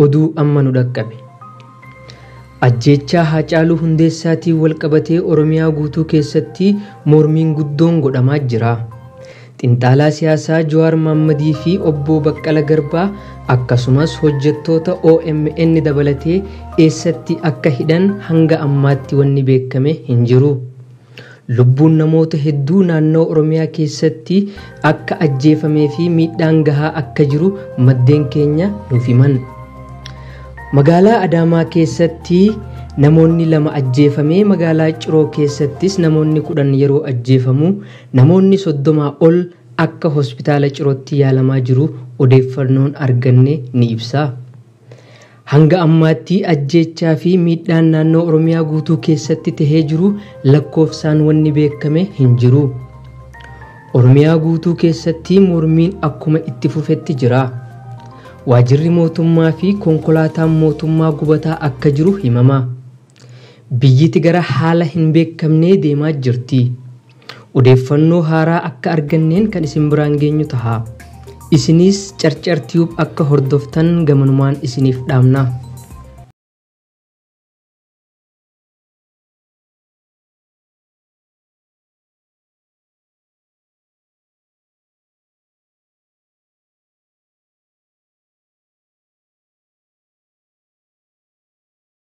Oduu amma nu dhaqqabe. Ajjeechaa Haacaaluu Hundeessaatiin walqabatee Oromiyaa guutuu keessatti mormiin guddoon godhamaa jira. Xinxaalaa siyaasaa Jawaar Mohammadii fi Obboo Baqqala Garbaa akkasumas hojjettoota omn dabalatee eessatti akka hidhan hanga ammaatti wanni beekkame hin jiru. Lubbuun namoota hedduu naannawa Oromiyaa keessatti akka ajjeefamee fi miidhaan gahaa akka jiru maddeen keenya nuuf himan. Magaalaa Adaamaa keessatti namoonni lama ajjeefamee magaalaa Ciroo keessattis namoonni 10 yeroo ajjeefamu Namoonni 30 ol akka Hospitaala Cirootti yaalamaa jiru odeeffannoon arganne ni ibsa. Hanga ammaatti ajjeechaa fi miidhaan naannoo Oromiyaa guutuu keessatti tahee jiru lakkoofsaan wanni beekame hin jiru. Oromiyaa guutuu keessatti mormiin akkuma itti fufetti jira. Waajirri mootummaa fi konkolaataan mootummaa gubataa akka jiru himama. Biyyiti gara haala hin beekamnee deemaa jirti. Odeeffannoo haaraa akka arganneen kan isin biraan geenyu taha. Isiniis Carcar Tube akka hordoftan gamanumaan isiniif dhaamna.